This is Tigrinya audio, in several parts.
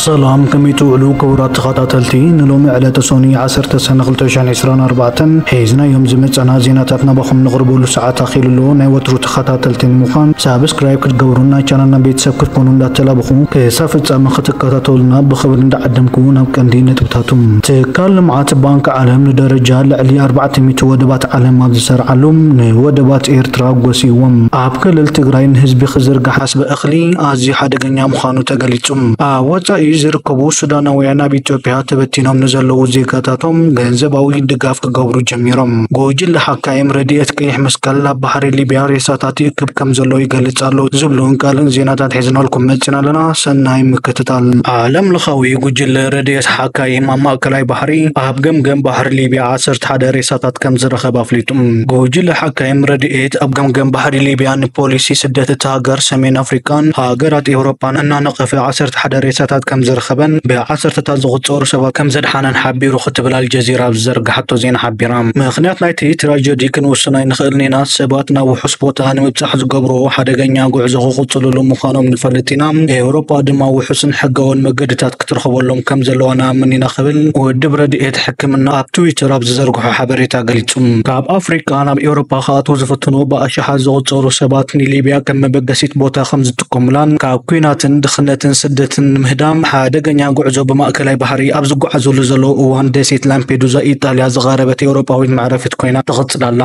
ሰላም ከመይ ትውዕሉ ክቡራት ተኸታተልቲ ንሎሚ ዕለተ ሶኒ 10 ሰነ 2024 ሒዝናዮም ዝመፀና ዜናታት ናባኹም ንቕርበሉ ሰዓት ኣኺሉ ኣሎ ናይ ወትሩ ተኸታተልቲ ንምዃን ሳብስክራይብ ክትገብሩን ናይ ቻናልና ቤተሰብ ክትኮኑ እንዳተላበኹ ክሳብ ፍጻመ ክትከታተሉና ብኽብሪ እንዳዓደምኩ ናብ ቀንዲ ነጥብታቱ ትካል ልምዓት ባንኪ ዓለም ንደረጃ ልዕሊ ኣርባዕተ ሚእቲ ወደባት ዓለም ኣብ ዝሰርዓሉ ንወደባት ኤርትራ ጎሲይዎም ኣብ ክልል ትግራይ ንህዝቢ ክዝርጋሕ ኣስበ እኽሊ ኣዝዩ ሓደገኛ ምዃኑ ተገሊጹ። ኣብ ወጻኢ ዝርከቡ ሱዳናውያን ኣብ ኢትዮጵያ ተበቲኖም ንዘለዉ ዜጋታቶም ገንዘባዊ ድጋፍ ክገብሩ ጀሚሮም። ጉጅለ ሓካይም ረድኤት ቀይሕ መስቀል ኣብ ባሕሪ ሊብያ ሬሳታት ይእክብ ከምዘሎ ይገልጽ ኣሎ ዝብሉን ካልእን ዜናታት ሒዝናልኩም መጺና ኣለና። ሰናይ ምክትታል። ዓለም ለኻዊ ጉጅለ ረድኤት ሓካይም ኣብ ማእከላይ ባሕሪ ኣብ ገምገም ባሕሪ ሊብያ ዓሰርተ ሓደ ሬሳታት ከምዝረኸበ ኣፍሊጡ። ጉጅለ ሓካይም ረድኤት ኣብ ገምገም ባሕሪ ሊብያ ንፖሊሲ ስደት እታ ሃገር፣ ሰሜን ኣፍሪቃን ሃገራት ኤውሮጳን እናነቐፈ ዓሰርተ ሓደ ሬሳታት ከምዝረኸበን ብዓሰርተታት ዝቑጸሩ ሰባት ከምዘድሓነን ሓቢሩ ክትብል ኣልጀዚራ ኣብ ዝዘርግሓቶ ዜና ሓቢራ። ምኽንያት ናይቲ ትራጀዲ ክንውስን ኣይንኽእልን ኢና፣ ሰባት ናብ ውሑስ ቦታ ንምብጻሕ ዝገብርዎ ሓደገኛ ጉዕዞ ክቕጽልሉ ምዃኖም ንፈልጥ ኢና፣ ኤውሮጳ ድማ ውሑስን ሕጋውን መገድታት ክትረኽበሎም ከም ዘለዋ ንኣምን ኢና ክብል ውድብ ረድኤት ሕክምና ኣብ ትዊተር ኣብ ዝዘርግሖ ሓበሬታ ገሊጹ። ካብ ኣፍሪቃ ናብ ኤውሮጳ ክኣትዉ ዝፍትኑ ብኣሽሓት ዝቑጸሩ ሰባት ንሊብያ ከም መበገሲት ቦታ ከም ኩምላን ካብ ኲናትን ድኽነትን ስደትን ንምህዳም ሓደገኛ ጉዕዞ ብማእከላይ ባሕሪ ኣብ ዝጓዓዙሉ ዘለዉ እዋን ደሴት ላምፔዱዛ ኢጣልያ ዝቐረበት ኤውሮጳዊት መዕረፊት ኮይና ትቕጽል ኣላ።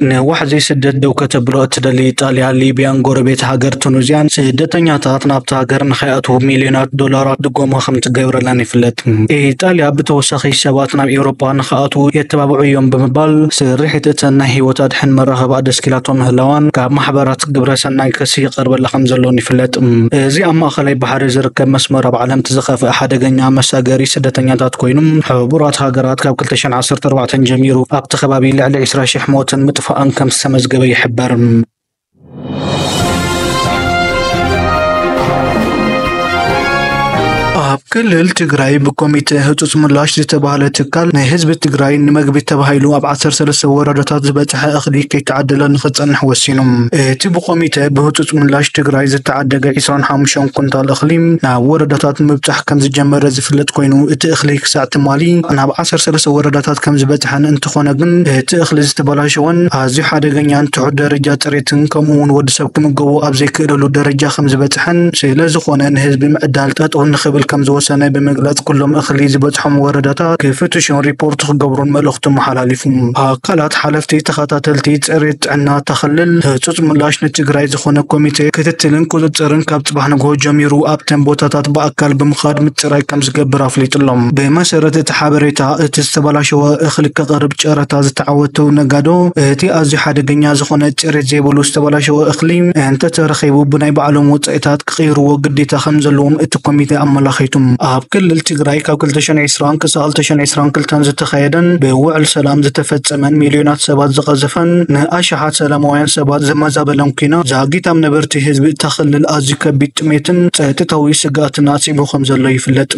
ንዋሕዚ ስደት ደው ከተብሎ እትደሊ ኢጣልያ፣ ሊብያን ጎረቤት ሃገር ቱኑዝያን ስደተኛታት ናብታ ሃገር ንኸይኣትዉ ሚልዮናት ዶላራት ድጎማ ከምትገብረለን ይፍለጥ። ኢጣልያ ብተወሳኺ ሰባት ናብ ኤውሮጳ ንኸኣትዉ የተባብዑ እዮም ብምባል ስርሒት እተን ናይ ህይወት ኣድሕን መራኽባ ኣደስኪላቶ ምህላዋን ካብ ማሕበራት ግብረ ሰናይ ክሲ ይቐርበላ ከም ዘሎን ይፍለጥ። እዚ ኣብ ማእከላይ ባሕሪ ዝርከብ መስመር ኣብ ዓለም እቲ ዝኸፍኣ ሓደገኛ መሳገሪ ስደተኛታት ኮይኑ፣ ሕቡራት ሃገራት ካብ ክልተ ሽሕን ዓሰርተ ኣርባዕተን ጀሚሩ ኣብቲ ከባቢ ልዕሊ ዕስራ ሽሕ ሞትን ምጥፋእን ከም ዝተመዝገበ ይሕበር። ኣብ ክልል ትግራይ ብኮሚተ ህፁፅ ምላሽ ዝተባህለ ትካል ናይ ህዝቢ ትግራይ ንመግቢ ተባሂሉ ኣብ ዓሰርተ ሰለስተ ወረዳታት ዝበፅሐ ዝነሓ እኽሊ ከይተዓደለ ንክፀንሕ ወሲኑ። እቲ ብኮሚተ ብህፁፅ ምላሽ ትግራይ ዝተዓደገ ዕስራን ሓሙሽተን ኩንታል እኽሊ ናብ ወረዳታት ምብፃሕ ከምዝጀመረ ዝፍለጥ ኮይኑ እቲ እኽሊ ክሳዕ ትማሊ ናብ ዓሰርተ ሰለስተ ወረዳታት ከምዝበፅሐን እንትኾነ ግን እቲ እኽሊ ዝተበላሸወን ኣዝዩ ሓደገኛን ትሑት ደረጃ ፅሬትን ከምኡ ውን ወድሰብ ክምገቦ ኣብ ዘይክእለሉ ደረጃ ከምዝበፅሐን ስለዝኾነ ንህዝቢ ምዕዳል ጠጠው ንክብል ከምዝወሰነ ብምግላፅ ኩሎም እኽሊ ዝበፅሖም ወረዳታት ክፍትሹን ሪፖርት ክገብሩን መልእኽቱ ሓላሊፉ። ኣካላት ሓለፍቲ ተኸታተልቲ ፅሬት ጥዕና እታ ክልል ህፁፅ ምላሽ ንትግራይ ዝኾነ ኮሚቴ ክትትልን ቁፅፅርን ካብ ፅባሕ ንግሆ ጀሚሩ ኣብተን ቦታታት ብኣካል ብምኻድ ምፅራይ ከምዝገብር ኣፍሊጡ'ሎ። ብመሰረት እቲ ሓበሬታ እቲ ዝተበላሸወ እኽሊ ከቕርብ ጨረታ ዝተዓወቱ ነጋዶ እቲ ኣዝዩ ሓደገኛ ዝኾነ ፅሬት ዘይብሉ ዝተበላሸወ እኽሊ እንተተረኺቡ ብናይ ባዕሎም ወፃኢታት ክቕይርዎ ግዴታ ከምዘለዎም እቲ ኮሚቴ ኣመላኺቱ። ኣብ ክልል ትግራይ ካብ ክልተ ሽሕን ዕስራን ክሳብ ክልተ ሽሕን ዕስራን ክልተን ዝተኻየደን ብውዕል ሰላም ዝተፈጸመን ሚልዮናት ሰባት ዝቐዘፈን ንኣሽሓት ሰላማውያን ሰባት ዘመዛበለን ኲናት ዛጊት ኣብ ነበርቲ ህዝቢ እታ ክልል ኣዝዩ ከቢድ ጥሜትን ጸጥታዊ ስግኣትን ኣስዒቡ ከም ዘሎ ይፍለጥ።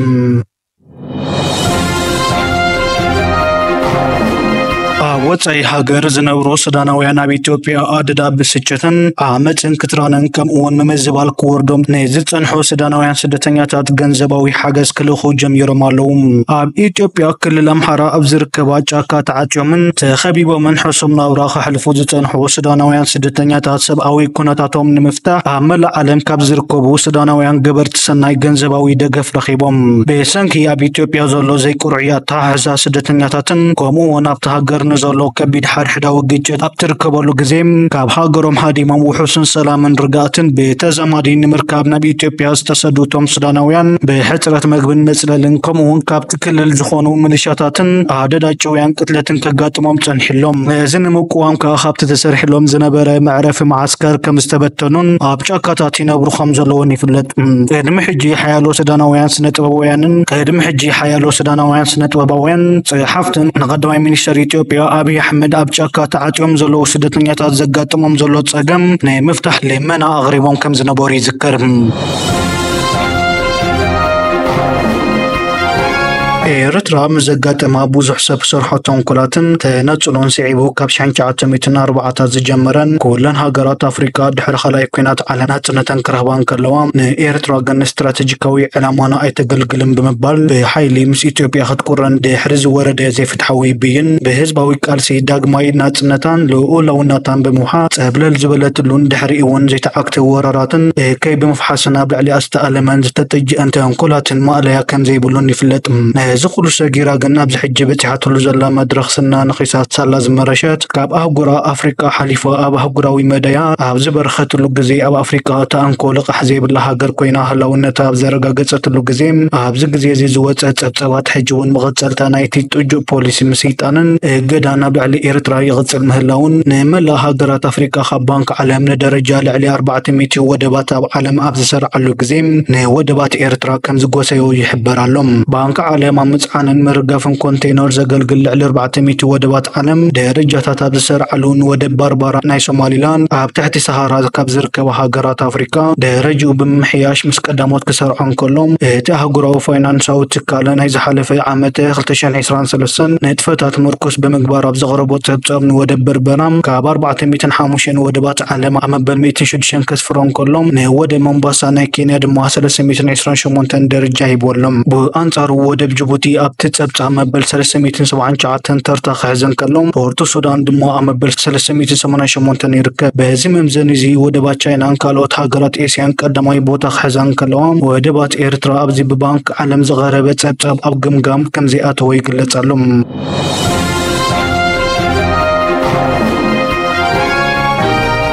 ወፃኢ ሃገር ዝነብሩ ሱዳናውያን ኣብ ኢትዮጵያ ኣደዳ ብስጭትን ዓመፅን ክትራንን ከምኡውን ምምዝባል ክወርዶም ንዝፀንሑ ሱዳናውያን ስደተኛታት ገንዘባዊ ሓገዝ ክልእኹ ጀሚሮም ኣለው። ኣብ ኢትዮጵያ ክልል ኣምሓራ ኣብ ዝርከባ ጫካ ተዓፅዮምን ተኸቢቦምን ሕሱም ናብራ ከሕልፉ ዝፀንሑ ሱዳናውያን ስደተኛታት ሰብኣዊ ኩነታቶም ንምፍታሕ ኣብ መላእ ዓለም ካብ ዝርከቡ ሱዳናውያን ገበርቲ ሰናይ ገንዘባዊ ደገፍ ረኺቦም። ብሰንኪ ኣብ ኢትዮጵያ ዘሎ ዘይቅርዑይ ኣተሓሕዛ ስደተኛታትን ከምኡ እውን ኣብታ ሃገር ንዘሎ ከቢድ ሓድሕዳዊ ግጭት ኣብ ትርከበሉ ግዜ ካብ ሃገሮም ሃዲሞም ውሑስን ሰላምን ርግኣትን ብተዛማዲ ንምርካብ ናብ ኢትዮጵያ ዝተሰዱ እቶም ሱዳናውያን ብሕፅረት መግብን መፅለልን ከምኡ እውን ካብቲ ክልል ዝኾኑ ምልሻታትን ኣደዳ ጭውያን ቅትለትን ከጋጥሞም ፀኒሑሎም ነዚ ንምቁዋም ከዓ ካብቲ ተሰሪሕሎም ዝነበረ መዕረፊ መዓስከር ከም ዝተበተኑን ኣብ ጫካታት ይነብሩ ከም ዘለውን ይፍለጥ ቅድሚ ሕጂ ሓያሎ ሱዳናውያን ስነ ጥበባውያንን ቅድሚ ሕጂ ሓያሎ ሱዳናውያን ስነ ጥበባውያን ፀሓፍትን ንቀዳማይ ሚኒስተር ኢትዮጵያ ኣብይ ኣሕመድ ኣብ ጫካ ተዓጽዮም ዘለዉ ስደተኛታት ዘጋጥሞም ዘሎ ጸገም ናይ ምፍታሕ ልመና ኣቕሪቦም ከም ዝነበሩ ይዝከር። ኤርትራ ምስ ዘጋጠማ ብዙሕ ሰብ ዝሰርሖ ተንኮላትን ተነጽሎን ስዒቡ ካብ ሽሕን ትሽዓተ ሚእትን ኣርባዓታት ዝጀመረን ኩለን ሃገራት ኣፍሪቃ ድሕሪ ካልኣይ ኩናት ዓለም ናጽነተን ክረኽባ እንከለዋ ንኤርትራ ግን ንስትራተጂካዊ ዕላማና ኣይተገልግልን ብምባል ብሓይሊ ምስ ኢትዮጵያ ክትቁረን ድሕሪ ዝወረደ ዘይፍትሓዊ ብይን ብህዝባዊ ቃልሲ ዳግማይ ናጽነታን ልኡላውነታን ብምውሓስ ጸብለል ዝበለትሉን ድሕሪኡ'ውን ዘይተዓግተ ወራራትን እከይ ብምፍሓስን ኣብ ልዕሊኣ ዝተኣለመን ዝተጠጅአን ተንኮላትን ማእለያ ከምዘይብሉን ይፍለጥ። ነዚ ኩሉ ሰጊራ ግን ኣብዚ ሕጂ በጺሓትሉ ዘላ መድረኽ ስና ነኺሳ ሳላ ዝመረሸት ካብ ኣህጉራ ኣፍሪቃ ሓሊፋ ኣብ ኣህጉራዊ መዳያ ኣብ ዝበርኸትሉ ግዜ ኣብ ኣፍሪቃ እታ እንኮ ልቓሕ ዘይብላ ሃገር ኮይና ሃላውነታ ኣብ ዘረጋገጸትሉ ግዜ ኣብዚ ግዜ እዚ ዝወጸ ጸብጻባት ሕጂ እውን መቐጸልታ ናይቲ ጥጁእ ፖሊሲ ምስይጣንን እገዳን ኣብ ልዕሊ ኤርትራ ይቕጽል ምህላዉን ንመላእ ሃገራት ኣፍሪቃ ካብ ባንክ ዓለም ንደረጃ ልዕሊ ኣርባዕተ ሚእቲ ወደባት ኣብ ዓለም ኣብ ዝሰርዓሉ ግዜ ንወደባት ኤርትራ ከም ዝጎሰዮ ይሕበር ኣሎ። ባንክ ዓለም ኣብ ምጽዓንን ምርጋፍን ኮንተይነር ዘገልግል ልዕሊ ኣርባዕተ ሚእቲ ወደባት ዓለም ደረጃታት ኣብ ዝሰርዓሉ ንወደብ ባርባራ ናይ ሶማሊላንድ ኣብ ትሕቲ ሰሃራ ካብ ዝርከባ ሃገራት ኣፍሪካ ደረጅኡ ብምምሕያሽ ምስ ቀዳሞት ክሰርዖ እንከሎ እቲ ኣህጉራዊ ፋይናንሳዊ ትካል ናይ ዝሓለፈ ዓመት ክልተ ሽሕን ዕስራን ሰለስተን ንጥፈታት ምርኩስ ብምግባር ኣብ ዘቕረቦ ፀብፃብ ንወደብ በርበራ ካብ ኣርባዕተ ሚእትን ሓሙሽተን ወደባት ዓለም ኣብ መበል ሚእትን ሽዱሽተን ከስፍሮ እንከሎ ንወደብ ሞምባሳ ናይ ኬንያ ድማ ሰለስተ ሚእትን ዕስራን ሸሞንተን ደረጃ ሂብዎ ኣሎ። ብኣንፃሩ ወደብ ጅቡቲ ኣብቲ ፀብፃብ መበል ሰለስተ ሚእትን ሰብዓን ትሽዓተን እተን ተርታ ክሕዘን ከሎ፣ ፖርት ሱዳን ድማ ኣብ መበል ሰለስተ ሚእቲ ሰማንያን ሸሞንተን ይርከብ። በዚ መምዘኒ እዚ ወደባት ቻይናን ካልኦት ሃገራት ኤስያን ቀዳማይ ቦታ ክሕዛ እንከለዋ፣ ወደባት ኤርትራ ኣብዚ ብባንክ ዓለም ዝቐረበ ጸብጻብ ኣብ ገምጋም ከምዘይኣተወ ይግለጽ ኣሎ።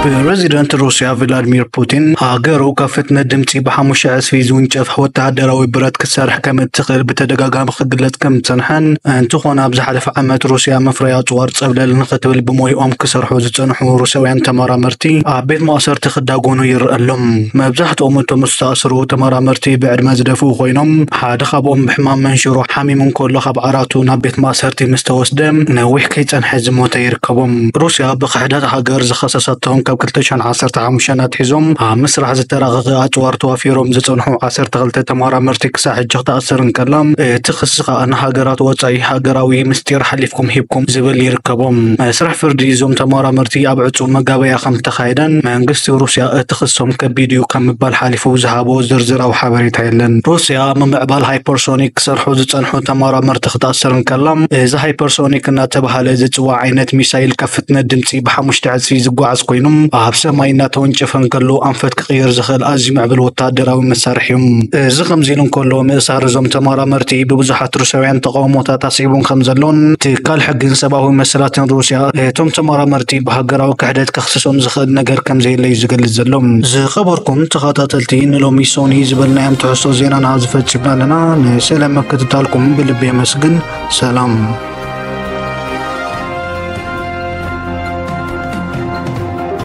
ፕረዚደንት ሩስያ ቭላድሚር ፑቲን ሃገሩ ካብ ፍጥነት ድምጺ ብሓሙሽተ ዕጽፊ ዝውንጨፍ ወተሃደራዊ ብረት ክትሰርሕ ከም እትኽእል ብተደጋጋሚ ክግለጽ ከም ዝጸንሐን፣ እንተኾነ ኣብ ዝሓለፈ ዓመት ሩስያ መፍረዪ ኣጽዋር ጸብለል ንኽትብል ብሞይኦም ክሰርሑ ዝጸንሑ ሩስያውያን ተመራመርቲ ኣብ ቤት ማእሰርቲ ክዳጎኑ ይርኣ ኣሎ። መብዛሕትኦም እቶም ዝተኣስሩ ተመራመርቲ ብዕድመ ዝደፍኡ ኮይኖም፣ ሓደ ካብኦም ብሕማም መንሽሮ ሓሚሙ እንከሎ ካብ ዓራቱ ናብ ቤት ማእሰርቲ ምስ ተወስደ ነዊሕ ከይጸንሐ ዝሞተ ይርከቦም። ሩስያ ብክሕደት ሃገር ዝኸሰሰቶም ካብ ክልተ ሽሕን ዓሰርተ ሓሙሽተን ኣትሒዞም ኣብ ምስራሕ ዝተራቐቐ ኣጽዋር ተዋፊሮም ዝጸንሑ ዓሰርተ ክልተ ተመራመርቲ ክሳዕ ሕጂ ክትኣስር እንከላ፣ እቲ ክሲ ከኣ ንሃገራት ወጻኢ ሃገራዊ ምስጢር ሓሊፍኩም ሂብኩም ዝብል ይርከቦ። መስርሕ ፍርዲ እዞም ተመራመርቲ ኣብ ዕጹው መጋበርያ ከምዝተኻየደን መንግስቲ ሩስያ እቲ ክሶም ከቢድ'ዩ ካብ ምባል ሓሊፉ ዝሃቦ ዝርዝራዊ ሓበሬታ የለን። ሩስያ ኣብ ምምዕባል ሃይፐርሶኒክ ክሰርሑ ዝጸንሑ ተመራመርቲ ክትኣስር እንከላ፣ እዚ ሃይፐርሶኒክ እናተባህለ ዝጽዋዕ ዓይነት ሚሳይል ካብ ፍጥነት ድምጺ ብሓሙሽተ ዕጽፊ ዝጓዓዝ ኮይኑ ኣብ ሰማይ እናተወንጨፈ እንከሎ ኣንፈት ክቕየር ዝኽእል ኣዝዩ ምዕቡል ወተሃደራዊ መሳርሒ'ዩ። እዚ ከምዚ ኢሉ እንከሎ፣ ምእሳር እዞም ተመራመርቲ ብብዙሓት ሩስያውያን ተቓውሞታት ኣስዒቡን ከምዘሎን ትካል ሕግን ሰብኣዊ መሰላትን ሩስያ እቶም ተመራመርቲ ብሃገራዊ ክሕደት ከኽስሶም ዝኽእል ነገር ከምዘየለ'ዩ ዝገልጽ ዘሎ። ዝኸበርኩም ተኸታተልቲ ንሎሚ ሶኒ ዝበልናዮም ትሕዝቶ ዜናና ኣብዚ ፈጺምና ኣለና። ንስለ ምክትታልኩም ብልቢ የመስግን። ሰላም።